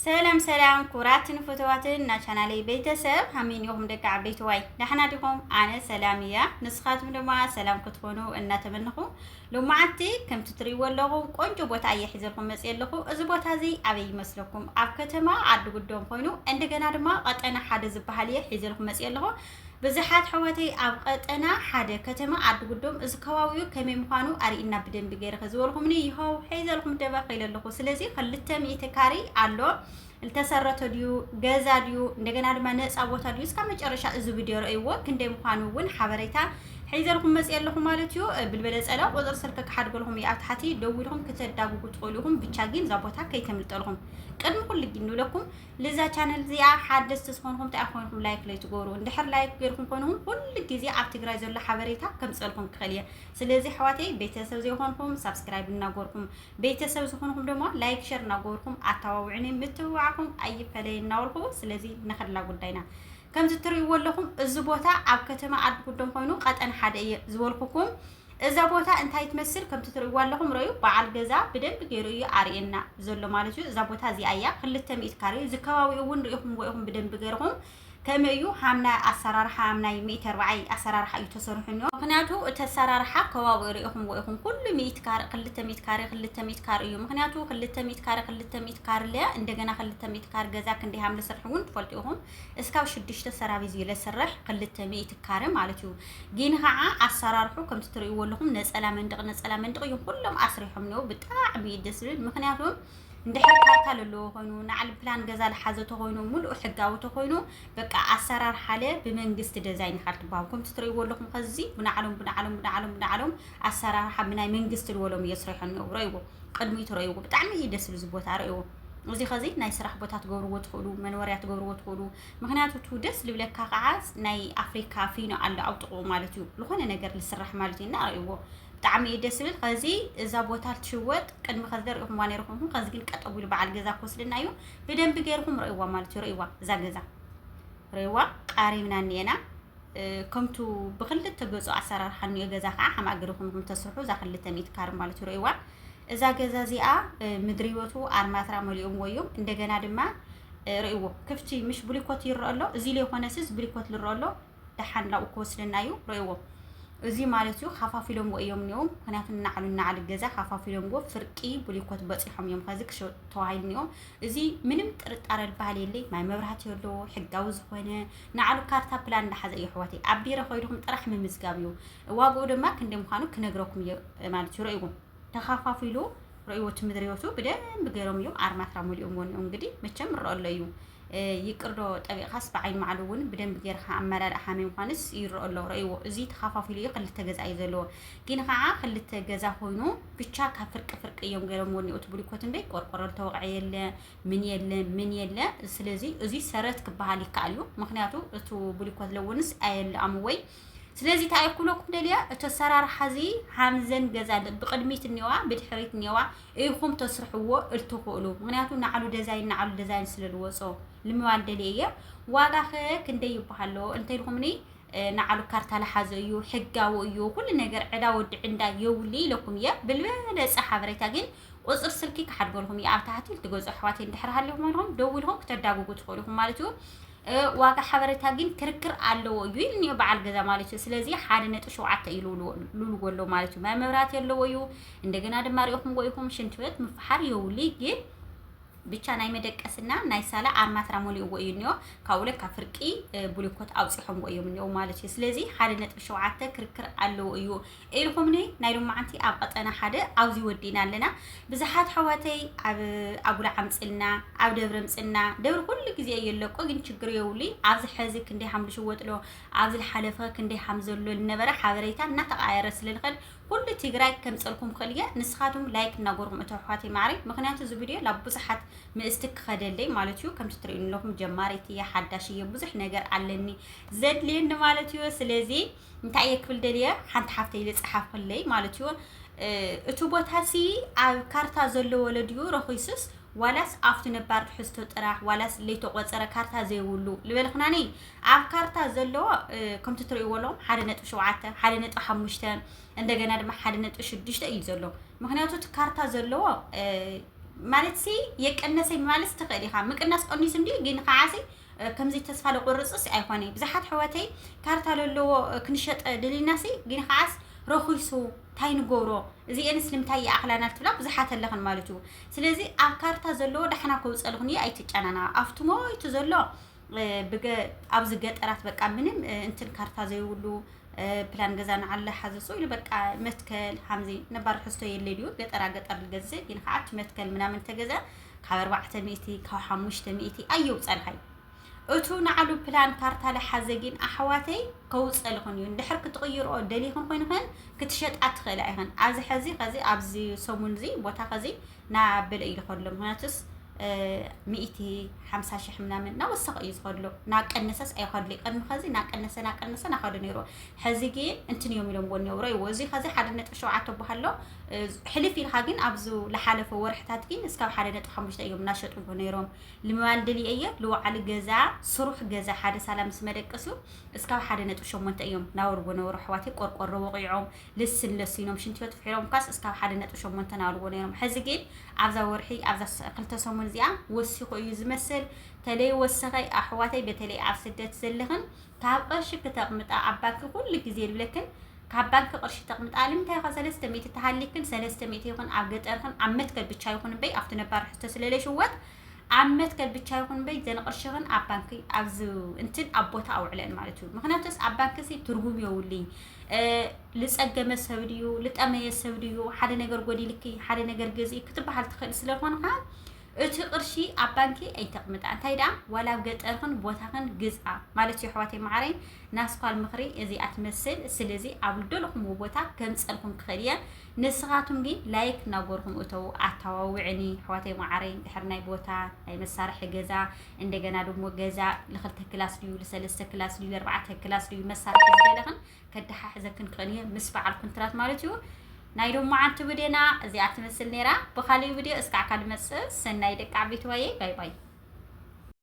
ሰላም ሰላም ክቡራትን ፈተዋትን ናቻናለይ ቤተሰብ ሃመይ ኒኹም ደቂ ዓበይትዋይ ዳሕና ዲኹም ኣነ ሰላም እያ ንስኻትኩም ድማ ሰላም ክትኾኑ እናተመንኹ ሎማዓንቲ ከምቲ ትሪእዎ ኣለኹም ቆንጆ ቦታ እየ ሒዘልኩም መፅእ ኣለኹ እዚ ቦታ እዚ ኣበይ ይመስለኩም ኣብ ከተማ ዓዲ ጉዶም ኮይኑ እንደገና ድማ ቀጠና ሓደ ዝበሃል እየ ሒዘልኩም መፅእ ኣለኹ ብዝሓት ኣሕዋተይ ኣብ ቐጠና ሓደ ከተማ ዓዲ ጉዶም እዚ ከባቢኡ ከመይ ምዃኑ ኣርእና ብደንቢ ገይረ ከዝበልኹምኒ ይኸው ሒዘልኩም ደበ ኺለ ኣለኹ ስለዚ ክልተ ሚእቲ ካሪ ኣሎ ዝተሰረተ ድዩ ገዛ ድዩ እንደገና ድማ ነፃ ቦታ ድዩ እስካብ መጨረሻ እዚ ቪድዮ ረእይዎ ክንደይ ምዃኑ እውን ሓበሬታ ሒዘልኩም መፅእ ኣለኹ ማለት እዩ ብልበለፀላ ቁፅሪ ስልኪ ክሓድገልኹም እዩ ኣብ ታሕቲ ደዊልኹም ክተዳጉጉ ትኽእሉ ኢኹም ብቻ ግን እዛ ቦታ ከይተምልጠልኹም ቅድሚ ኩሉ ግን ንብለኩም ልዛ ቻነል እዚኣ ሓደስቲ ዝኾንኩም እንታይ ኮይንኩም ላይክ ለይትገብሩ እንድሕር ላይክ ገይርኩም ኮይንኩም ኩሉ ግዜ ኣብ ትግራይ ዘሎ ሓበሬታ ከምፀልኩም ክኽእል እየ ስለዚ ኣሕዋተይ ቤተሰብ ዘይኮንኩም ሳብስክራይብ እናገርኩም ቤተሰብ ዝኾንኩም ድማ ላይክ ሸር እናገርኩም ኣተባብዑኒ ምትብባዕኩም ኣይፈለይ እናበልኩ ስለዚ ንኽላ ጉዳይና ከምዚ እትርእይዎ ኣለኹም እዚ ቦታ ኣብ ከተማ ዓዲ ጉዶም ኮይኑ ቀጠን ሓደ እየ ዝበልኩኩም እዛ ቦታ እንታይ ትመስል ከምቲ ትርእይዋ ኣለኹም ረዩ በዓል ገዛ ብደንቢ ገይሩ እዩ ኣርእየና ዘሎ ማለት እዩ። እዛ ቦታ እዚኣ እያ ክልተ ሚእቲ ካሬ እዚ ከባቢኡ እውን ርኢኹምዎ ኢኹም ብደንቢ ገይርኹም ከምኡ እዩ ሃምና ኣሰራርሓ ሃምናይ ሚእቲ ኣርባዓይ ኣሰራርሓ እዩ ተሰሪሑ እኒኦ ምክንያቱ እቲ ኣሰራርሓ ከባቢኡ ርኢኹምዎ ኢኹም ኩሉ ሚእቲ ካሬ ክልተ ሚእቲ ካሬ ክልተ ሚእቲ ካሬ እዩ ምክንያቱ ክልተ ሚእቲ ካሬ ክልተ ሚእቲ ካሬ ለያ እንደገና ክልተ ሚእቲ ካሬ ገዛ ክንደይ ሃምለ ስርሒ እውን ትፈልጡ ኢኹም እስካብ ሽዱሽተ ሰራቪዝ እዩ ለስርሕ ክልተ ሚእቲ ካረ ማለት እዩ ጊን ኻዓ ኣሳራርሑ ከምቲ ትርእይዎ ኣለኹም ነፀላ መንድቅ ነፀላ መንድቅ እዩም ኩሎም ኣስሪሖም እኒኦ ብጣዕሚ እዩ ደስ ዝብል ምክንያቱ እንድሕር ካርታ ለለዎ ኮይኑ ንዓል ፕላን ገዛ ልሓዘ ተኮይኑ ሙሉእ ሕጋዊ ተኮይኑ በቃ ኣሰራር ሓለ ብመንግስቲ ደዛይን ኢካ ትበሃሉ ከምቲ ትርእይዎ ኣለኹም ከዚ ብናዕሎም ብናዕሎም ብናዕሎም ብናዕሎም ኣሰራርሓ ብናይ መንግስቲ ልወሎም እዮ ስሪሖ እኒኦ ረእይዎ ቅድሚኡ ትረእይዎ ብጣዕሚ እዩ ደስ ዝብል ቦታ ረእይዎ እዚ ከዚ ናይ ስራሕ ቦታ ትገብርዎ ትኽእሉ መንወርያ ትገብርዎ ትኽእሉ ምክንያቱ ቱ ደስ ልብለካ ከዓ ናይ ኣፍሪካ ፊኖ ኣሎ ኣብ ጥቕኡ ማለት እዩ ዝኾነ ነገር ልስራሕ ማለት እዩ እና ኣርእዎ ብጣዕሚ እዩ ደስ ዝብል ከዚ እዛ ቦታ ልትሽወጥ ቅድሚ ከዚ ደሪእኹም ዋኔ ርኹምኩም ከዚ ግን ቀጠቡ ኢሉ በዓል ገዛ ክወስደና እዩ ብደንቢ ገይርኹም ርእይዋ ማለት እዩ ርእይዋ እዛ ገዛ ርእይዋ ቃሪብና እኒኤና ከምቱ ብክልተ ገፁ ኣሰራርሓ እኒኦ ገዛ ከዓ ሓማእ ገርኹም ተስርሑ እዛ ክልተ ሚእቲ ካር ማለት እዩ ርእይዋ እዛ ገዛ እዚኣ ምድሪ ህይወቱ ኣርማትራ መሊኦም ወዮም እንደገና ድማ ርእዎ ክፍቲ ምሽ ብሊኮት ይረአ ኣሎ እዚ ለይኮነ ስዝ ብሊኮት ልረአ ኣሎ ደሓን ላብኡ ክወስደና እዩ ርእዎ እዚ ማለት እዩ ካፋፊሎምዎ እዮም እኒኦም ምክንያቱ ናዕሉ ናዕሊ ገዛ ካፋፊሎምዎ ፍርቂ ብሊኮት በፂሖም እዮም ከዚ ክሸጡ ተዋሂሉ እኒኦም እዚ ምንም ጥርጣረ ዝበሃል የለይ ማይ መብራህቲ ኣለዎ ሕጋዊ ዝኾነ ናዕሉ ካርታ ፕላን እንዳሓዘ እዩ ኣሕዋተይ ኣብ ቢሮ ከይድኹም ጥራሕ ምምዝጋብ እዩ ዋግኡ ድማ ክንደይ ምዃኑ ክነግረኩም እዩ ማለት እዩ ረእዎም ተኻፋፊሉ ረእዎት ምድር ህይወቱ ብደንብ ገይሮም እዮም ኣርማትራ መሊኦም ወንኡ እንግዲህ መቸም ይረአ ኣሎ እዩ ይቅርዶ ጠቢቕካስ ብዓይኒ ማዕሉ እውን ብደንብ ጌርካ ኣመላል ሓመይ ምኳንስ ይረአ ኣሎ ረእዎ እዚ ተኻፋፊሉ እዩ ክልተ ገዛ እዩ ዘለዎ ግን ከዓ ክልተ ገዛ ኮይኑ ብቻ ካብ ፍርቂ ፍርቂ እዮም ገይሮም ወንኡ እቲ ብሊኮት እምበይ ቆርቆሮ ዝተወቕዐ የለ ምን የለ ምን የለ ስለዚ እዚ ሰረት ክበሃል ይከኣል እዩ ምክንያቱ እቲ ብሊኮት ለውንስ ኣየለኣሙ ወይ ስለዚ እንታይ እየ ክብለኩም ደልየ እቲ ኣሰራርሓ እዚ ሃምዘን ገዛ ብቅድሚት እኒዋ ብድሕሪት እኒዋ ኢኹም ተስርሕዎ እትኽእሉ ምክንያቱ ንዓሉ ደዛይን ንዓሉ ደዛይን ስለ ዝወፆ ልምባል ደልየ እየ ዋጋ ከ ክንደይ ይበሃሎ እንተልኩምኒ ንዓሉ ካርታ ልሓዘ እዩ ሕጋዊ እዩ ኩሉ ነገር ዕዳ ወዲ ዕንዳ የውል ኢለኩም እየ ብልበለፀ ሓበሬታ ግን ቁፅር ስልኪ ክሓድገልኩም እዩ ኣብ ታሕቲ ልትገዝኦ ኣሕዋት እንድሕር ሃሊኹም ደውልኩም ክተዳግጉ ትኽእሉ ኢኹም ማለት እዩ ዋጋ ሓበሬታ ግን ክርክር ኣለዎ እዩ ኢልኒዮ በዓል ገዛ ማለት እዩ ስለዚ ሓደ ነጥቢ ሸውዓተ እዩ ልብልዎ ኣሎ ማለት እዩ ማይ መብራት የለዎ እዩ እንደገና ድማ ሪኢኹምዎ ኢኹም ሽንት ቤት ምፍሓር የውሊ ግን ብቻ ናይ መደቀስና ናይ ሳላ ኣርማትራ ሞሊእዎ እዩ እኒኦ ካብኡ ለ ካብ ፍርቂ ቡሊኮት ኣውፂሖምዎ እዮም እኒኦ ማለት እዩ ስለዚ ሓደ ነጥቢ ሸውዓተ ክርክር ኣለዎ እዩ ኢልኹምኒ ናይ ሎማዓንቲ ኣብ ቐጠና ሓደ ኣውዚ ወዲእና ኣለና ብዝሓት ኣሕዋተይ ኣብ ኣጉላ ዓምፅልና ኣብ ደብሪ ኣምፅልና ደብሪ ኩሉ ግዜ እየ ኣለቆ ግን ችግር የውሉይ ኣብዚ ሐዚ ክንደይ ሃም ልሽወጥሎ ኣብዚ ልሓለፈ ክንደይ ሃም ዘሎ ልነበረ ሓበሬታ እናተቃየረ ስለልኸድ ኩሉ ትግራይ ከምፀልኩም ክእል እየ ንስኻትም ላይክ እናጎርኩም እቶ ኣሕዋተይ ማዕረይ ምክንያቱ እዚ ቪድዮ ላብ ብዙሓት ምእስቲ ክኸደለይ ማለት እዩ ከምቲ ትርእዩኒ ኣለኹም ጀማሪት እየ ሓዳሽ እየ ብዙሕ ነገር ኣለኒ ዘድልየኒ ማለት እዩ ስለዚ እንታይ እየ ክብል ደልየ ሓንቲ ሓፍተይ ኢለ ጸሓፍክለይ ማለት እዩ እቲ ቦታ ሲ ኣብ ካርታ ዘለዎ ድዩ ረኺሱስ ዋላስ ኣብቲ ነባር ትሕዝቶ ጥራሕ ዋላስ ለይተቆፀረ ካርታ ዘይብሉ ልበልክናኒ ኣብ ካርታ ዘለዎ ከምቲ ትርእይዎ ኣለኹም ሓደ ነጥቢ ሸውዓተ ሓደ ነጥቢ ሓሙሽተ እንደገና ድማ ሓደ ነጥቢ ሽዱሽተ እዩ ዘሎ ምክንያቱ እቲ ካርታ ዘለዎ ማለት ሲ የቀነሰ ማለት ትኽእል ኢኻ ምቅናስ ቀኒሱ እንዲ ግን ከዓሲ ከምዚ ተስፋ ደቁርፅስ ኣይኮነ ብዙሓት ሕወተይ ካርታ ለለዎ ክንሸጠ ድልናሲ ግን ከዓስ ረኺሱ ታይ ንገብሮ እዚኤንስ ልምታይ ይኣኽላና ትብላ ብዙሓት ኣለኽን ማለት እዩ ስለዚ ኣብ ካርታ ዘለዎ ዳሕና ከውፀልኽን እዩ ኣይትጨናነቓ ኣብቲ ሞይቱ ዘሎ ኣብዚ ገጠራት በቃ ምንም እንትን ካርታ ዘይብሉ ፕላን ገዛ ንዓለ ሓዘሶ ኢሉ በቃ መትከል ሓምዚ ነባር ሕዝቶ የለ ድዩ ገጠራ ገጠር ልገዝእ ግን ከዓት መትከል ምናምን ተገዘ ካብ ኣርባዕተ ሚእቲ ካብ ሓሙሽተ ሚእቲ ኣየውፀልኻይ እቱ ንዓሉ ፕላን ካርታ ለሓዘ ግን ኣሕዋተይ ከውፀልኽን እዩ እንድሕር ክትቕይርኦ ደሊኽን ኮይንኽን ክትሸጣ ትኽእላ ኢኽን ኣብዚ ሕዚ ከዚ ኣብዚ ሰሙን እዚ ቦታ ከዚ ናበለ እዩ ዝኸድሎ ምክንያቱስ ሚእቲ ሓምሳ ሽሕ ምናምን ናወሰኸ እዩ ዝኸድሎ ናቀነሰስ ኣይኸድሎ ቅድሚ ከዚ ናቀነሰ ናቀነሰ ናኸዱ ነይሩ ሕዚ ግን እንትን እዮም ኢሎም ጎኒ ውረ ይዎ እዚ ከዚ ሓደ ነጥቢ ሸውዓተ በሃሎ ሕልፍ ኢልካ ግን ኣብዚ ዝሓለፈ ወርሕታት ግን እስካብ ሓደ ነጥቢ ሓሙሽተ እዮም እናሸጥሉ ነይሮም ልምባል ድልየ እየ ልወዓሊ ገዛ ስሩሕ ገዛ ሓደ ሳላ ምስ መደቀሱ እስካብ ሓደ ነጥቢ ሸሞንተ እዮም ናወርዎ ነበሩ ኣሕዋተይ ቆርቆሮ ወቂዖም ልስን ለሲኖም ሽንትዮት ፍሒሮም ኳስ እስካብ ሓደ ነጥቢ ሸሞንተ ናወርዎ ነይሮም ሕዚ ግን ኣብዛ ወርሒ ኣብዛ ክልተ ሰሙን እዚኣ ወሲኹ እዩ ዝመስል ተለይ ወሰኸ ኣሕዋተይ በተለይ ኣብ ስደት ዘለኽን ካብ ቅርሺ ክተቅምጣ ኣብ ባንኪ ኩሉ ግዜ ንብለክን ካብ ባንኪ ቅርሺ ተቅምጣ ልምንታይ ኢካ ሰለስተ ሚእቲ ተሃሊክን ሰለስተ ሚእቲ ይኩን ኣብ ገጠር ይኩን ኣብ መትከል ብቻ ይኩን እምበይ ኣብቲ ነባር ሕቶ ስለ ለይሽወጥ ኣብ መትከል ብቻ ይኩን እምበይ ዘን ቅርሽክን ኣብ ባንኪ ኣብዚ እንትን ኣብ ቦታ ኣውዕለን ማለት እዩ ምክንያቱስ ኣብ ባንኪ ሲ ትርጉም የውልይ ልጸገመ ሰብ ድዩ ልጠመየ ሰብ ድዩ ሓደ ነገር ጎዲልኪ ሓደ ነገር ገዝኢ ክትበሃል ትክእል ስለኮንካ እቲ ቅርሺ ኣብ ባንኪ ኣይተቅምጣ እንታይ ደኣ ዋላ ኣብ ገጠርክን ቦታክን ግዝኣ ማለት እዩ ኣሕዋተይ መዓረይ ናስኳል ምክሪ እዚኣ ትመስል ስለዚ ኣብ ልደልኩምዎ ቦታ ከምፀልኩም ክክእል እየ ንስካቱም ግን ላይክ ናጎርኩም እተው ኣታዋውዕኒ ኣሕዋተይ መዓረይ ድሕር ናይ ቦታ ናይ መሳርሒ ገዛ እንደገና ድሞ ገዛ ልክልተ ክላስ ድዩ ልሰለስተ ክላስ ድዩ ልርባዕተ ክላስ ድዩ መሳርሒ ዝበለክን ከደሓሕዘክን ክእል እየ ምስ በዓል ኩንትራት ማለት እዩ ናይ ሎማዓንቲ ብዴና እዚኣ ትመስል ነይራ ብካሊእ ብድዮ እስካዕ ካልእ መፅእ ሰናይ ደቂ ዓበይቲ ዋየ ባይ ባይ